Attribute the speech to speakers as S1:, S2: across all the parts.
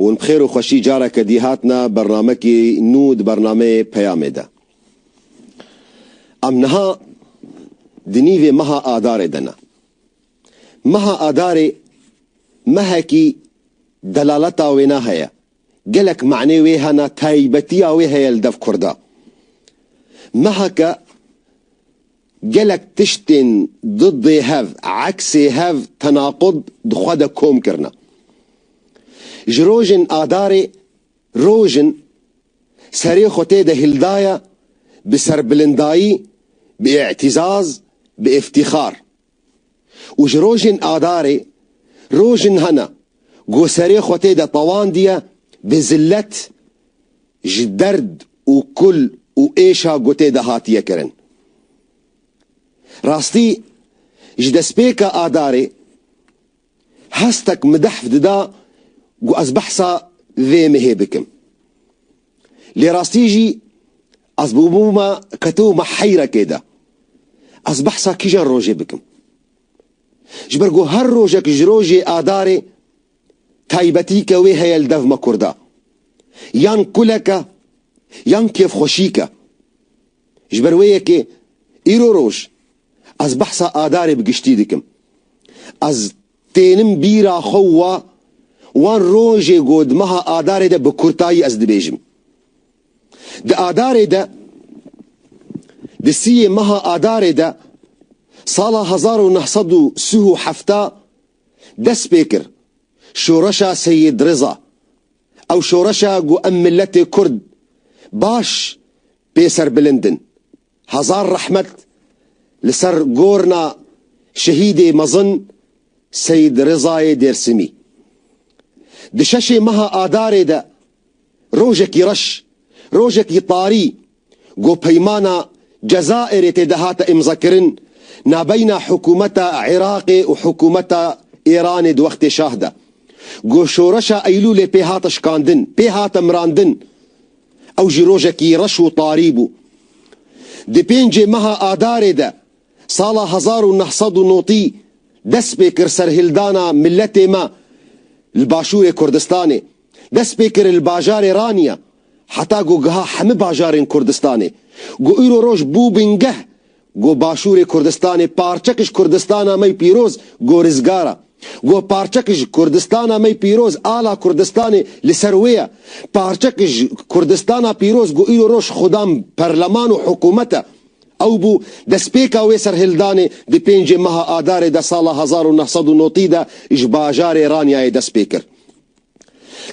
S1: Hûn bi xêr û xweşî careke dî hatine bernamekî nû di bernameyê Peyamê de. Em niha di nîvê meha Adarê de ne. Meha Adarê mehekî delaleta wêne heye, gelek manê wê hene, taybetiya wê heye li dev kurda. Meheke Gelek tiştên diddê hev, eksê hev, tenaqud di xwe de kom kirine. Ji rojên Adarê roj in serê xwe tê de hîldaye bi serbilindayî, bi îtîzaz, bi îftîxar. û ji rojên Adarê roj in hena ku serê xwe tê de tawandiye bi zilet ji derd û kul û êşa ku tê de hatiye kirin. Rastî ji destpêka Adarê Hestek midehf dida ku ez behsa vê mehê bikim. Lê rastî jî ez bûbûma ketibûma heyrekê de. Ez behsa kîjan rojê bikim? Ji ber ku her rojek ji rojê adarê taybetîke wê heye li dev me kurda. Yan kulek e, yan kêfxweşîk e. Ji ber wê yekê îro roj. Ez behsa Adarê bi giştî dikim. Ez tênim bîra xwe û wa wan rojê got di meha Adarê de bi kurtayî ez dibêjim. Di Adarê de di siyê meha Adarê de sala hezar û neh sed û sih û hefta dest pê kir şoreşa Seyîd Riza. Ew şoreşa ku em miletê kurd baş pê serbilind in. Hezar rehmet li ser gorna şehîdê mezin Seyîd Rêzayê Dêrsimî. Di şeşê meha Adarê de rojekî reş, rojekî tarî ku peymana Cezayirê tê de hate îmzakirin nabeyna hikûmeta Iraqê û hikûmeta Îranê di wextê şah de ku şoreşa Eylûlê pê hate şikandin, pê hate mirandin, Ew jî rojekî reş û tarî bû. Di pêncê meha Adarê de sala hezar û neh sed û notî dest pê kir serhildana miletê me li Başûrê Kurdistanê. Dest pê kir li bajarê Raniya heta ku giha hemi bajarên Kurdistanê. Ku îro roj bû bingeh Go Başûrê Kurdistanê parçek ji Kurdistana me pîroz go rizgar e. Go parçek ji Kurdistana me pîroz ala Kurdistanê li ser wê ye. Parçek ji Kurdistana pîroz go îro roj xwedam perleman û hikûmet e. Ew bû destpêka wê serhildanê di pêncê meha Adarê de sala hezar û neh sed û notî de ji bajarê Ranyayê dest pê kir.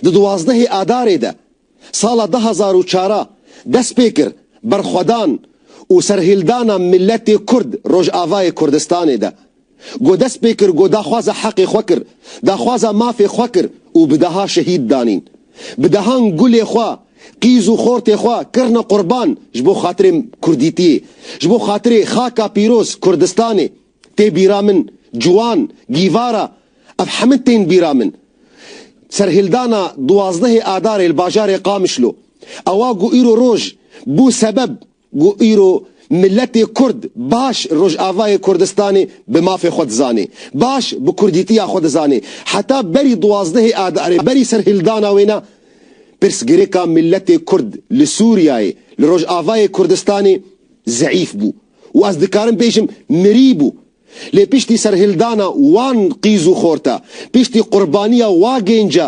S1: Di duwazdehê Adarê de. Sala du hezar û çar a dest pê kir berxwedan û serhildana miletê kurd Rojavayê Kurdistanê de. Go dest pê kir go daxwaza heqê xwe kir, daxwaza mafê xwe kir û bi deha şehîd danîn. Bi dehan gulê xwe, qîz û xortê xwe kirine qurban ji bo xatirê kurdîtiyê, ji bo xatirê xaka pîroz Kurdistanê. Tê bîra min, Ciwan, Gîvara, ev hemû tên bîra min. Serhildana duwazdehê Adarê li bajarê Qamişlo, ewa ku îro roj bû sebeb ku îro miletê Kurd baş Rojavayê Kurdistanê bi mafê xwe dizanê, baş bi kurdîtiya xwe dizanê. Heta berî duwazdehê Adarê, berî serhildana wê ne, pirsgirêka miletê Kurd li Sûriyeyê, li Rojavayê Kurdistanê zeîf bû. û ez dikarim bêjim mirî bû. Lê piştî serhildana wan qîz û xorta, piştî qurbaniya wa gênca,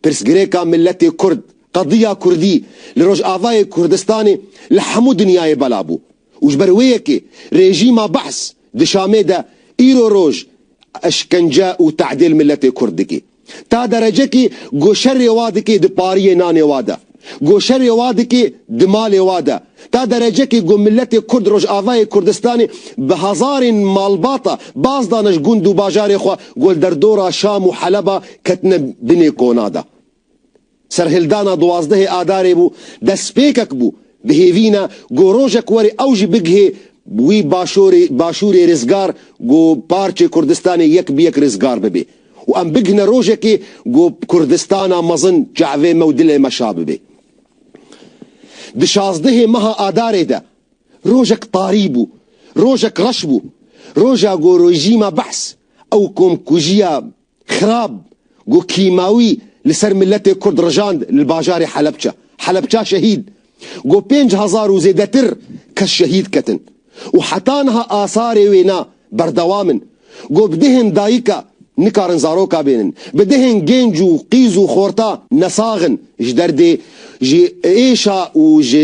S1: pirsgirêka miletê kurd, qediya kurdî li Rojavayê Kurdistanê li hemû dinyayê bela bû û ji ber wê yekê rejîma Bahs di Şamê de îro roj eşkence û te'dêl miletê kurd dikê. Ta derecekî goşerê wa dikê di pariyê nanê wa de, goşerê wa dikê di malê wa de, ta derecekî ku miletê kurd Rojavayê Kurdistanê bi hezarên malbata baz dane ji gund û bajarê xwe ku li derdora Şam û Heleba ketine binê kona de. Serhildana duwazdehê Adarê bû, destpêkek bû bi hêvîna ku rojek were ew jî bigihê wî başorê başûrê rizgar ku parçê Kurdistanê yek bi yek rizgar bibê û em bigihne rojekê ku Kurdistana mezin çavê me û dilê me şa bibê. Di şazdehê meha Adarê de rojek tarî bû, rojek reş bû, roja ku rejîma behs ew komkujiya Xirab ku kîmawî li ser miletê Kurd rijand li bajarê Helebça, Helebça şehîd, ku pênc hezar û zêdetir kes şehîd ketin û heta niha asarê wê na berdewam in ku bi dihên dayika nikarin zaroka bênin, bi dihên gênc û qîz û xorta nesax in ji derdê ji êşa û ji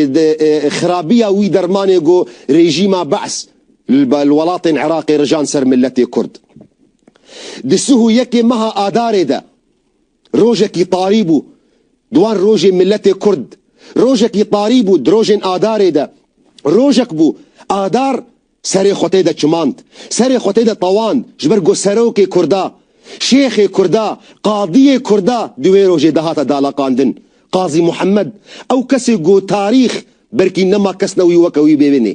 S1: xirabiya wî dermanê ku rejîma Ba's li welatên Iraqê rijand ser miletê Kurd. Di sih û yekê meha Adarê de rojekî tarî bû di wan rojê miletê Kurd. Rojekî tarî bû di rojên Adarê de. Rojek bû Adar serê xwe tê de çimand, serê xwe tê de tewand ji ber ku serokê Kurda, şêxê Kurda, qadiyê Kurda di wê rojê de hate dalaqandin. Qazî Muhemed ew kesê ku tarîx Berkî nema kes ne wî weke wî bê wê nê.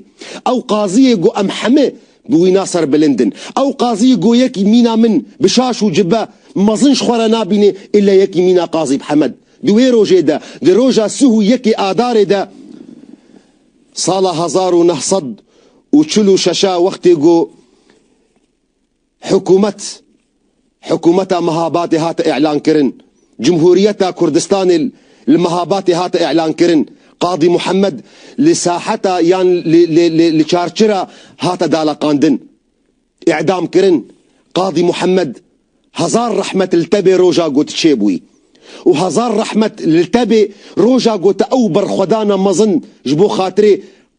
S1: Ew qaziyê got em heme bi wî na ser bilind in. Ew qaziyê got yekî mîna min bi şaş û cibe mezin ji xwe re nabînê îlle yekî mîna qazî bi Hemed. Di wê rojê de, di roja sih û yekê Adarê de sala hezar û neh sed û çil û şeş a wextê got, Hikûmet, Hikûmeta Mehabatê hate îlankirin, Cumhuriyeta Kurdistanê li Mehabatê hate îlankirin, Qadî Muhemed li Saheta yan li Çarçira hate daleqandin, îdamkirin, Qadî Muhemed hezar rehmet li te bê roja ku tu çêbûyî. û hezar rehmet li te bê roja ku te ew berxwedana mezin ji bo xatirê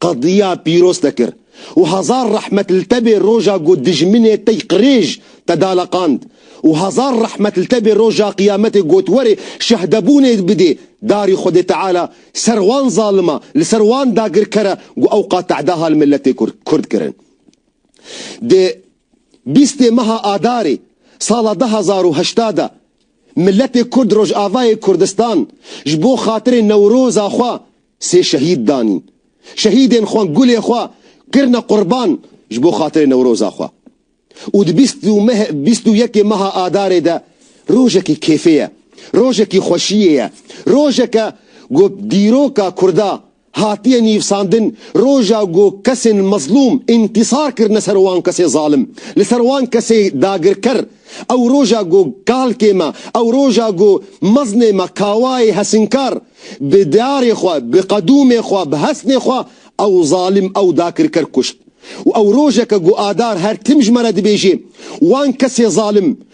S1: qediya pîroz te kir û hezar rehmet li te bê roja ku dijminê tey qirêj te daleqand û hezar rehmet li te bê roja qiyametê got were şehdebûnê bidê darî xwedê teala ser wan zalima li ser wan dagirkere ku ewqa tedaha li miletê kurd kirin. Di bîstê meha adarê sala du hezar û heşta de Miletê Kurd Rojavayê Kurdistan ji bo xatirê Newroza xwe sê şehîd danîn. Şehîdên xwe gulê xwe kirine qurban ji bo xatirê Newroza xwe. Û di bîst û yekê meha Adarê de rojekî kêfê ye, rojekî xweşiyê ye, rojeke ku dîroka Kurda Hatiye nivîsandin roja ku kesên mezlûm întisar kirine ser wan kesê zalim, li ser wan kesê dagirker, ew roja ku kalkê me, ew roja ku meznê me kawayê hesinkar bi diyarê xwe, bi qedûmê xwe, bi hesnê xwe ew zalim, ew dakirker kuşt û ew rojeke ku Adar her tim ji me re dibêjê, Wan kesê zalim,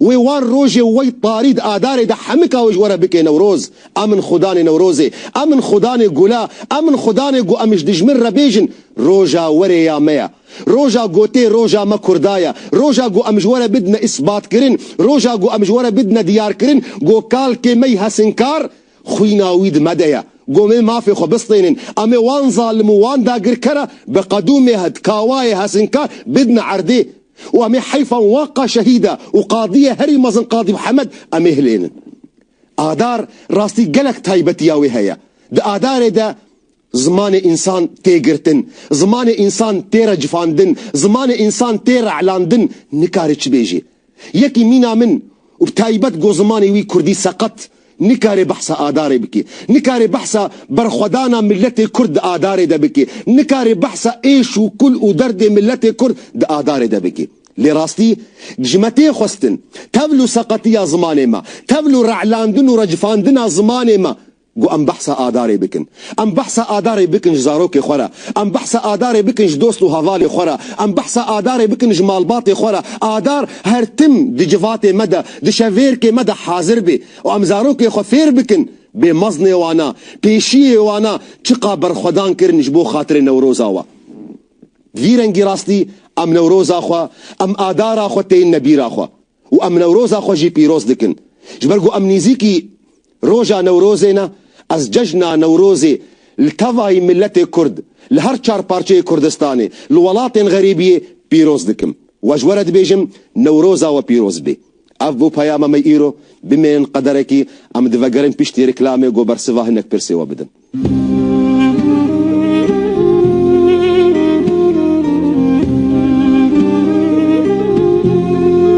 S1: Wê wan rojê û wey parî di adarê de hemika wê ji we re bikê Newroz. A min xwe danê Newrozê, a min xwe danê gula, a min xwe danê ku em ji dijmin re bêjin roja werê ya me ye. Roja gotê roja me Kurda ye. Roja ku em ji we re bidine îsbatkirin, roja ku em ji we re bidine diyarkirin ku kalkê me yî hesinkar, Xwîna wî di me de ye. Gomê mafê xwe bistênin. Em ê wan zalim û wan dagirkera bi qedûmê het kawayê hesinkar bidin erdê û em ê heyfa wan ka şehîda û qadiyê herî mezin Qadî Mihemed em ê hilênin. Adar rastî gelek taybetiya wê heye. Di Adarê de Zimanê însan tê girtin, zimanê însan tê recifandin, zimanê însan tê re'landin, nikare çi bêjê. Yekî mîna min û bi taybet go zimanê wî kurdî seqet nikare behsa adarê bike. Nikare behsa berxwedana miletê kurd di adarê de bike. Nikare behsa êş û kul û derdê miletê kurd di adarê de bike. Lê rastî ji me tê xwestin. Tevl û seqetiya zimanê me, tevl û re'landin û recifandina zimanê me Ku em behsa Adarê bikin. Em behsa Adarê bikin ji zarokê xwe re. Em behsa Adarê bikin ji dost û hevalê xwe re. Em behsa Adarê bikin ji malbatê xwe re. Adar her tim di civatê me de, di şevêrkê me de hazir bê û em zarokê xwe fêr bikin bê meznê wan a, pêşiyê wan a çiqa berxwedan kirin ji bo xatirê Newroza we. Vîrengî rastî em Newroza xwe, em Adara xwe têyinne bîra xwe. û em Newroza xwe jî pîroz dikin. Ji ber ku em nîzîkî roja Newrozê ne, ez cejna Newrozê li tevayî miletê Kurd, li her çar parçeyê Kurdistanê, li welatên xerîbiyê pîroz dikim. We ji we re dibêjim Newroza we pîroz be. Ev bû peyama me îro. Bimînin qederekî em divegerin piştî reklamê ku bersiva hinek pirsê we bidin.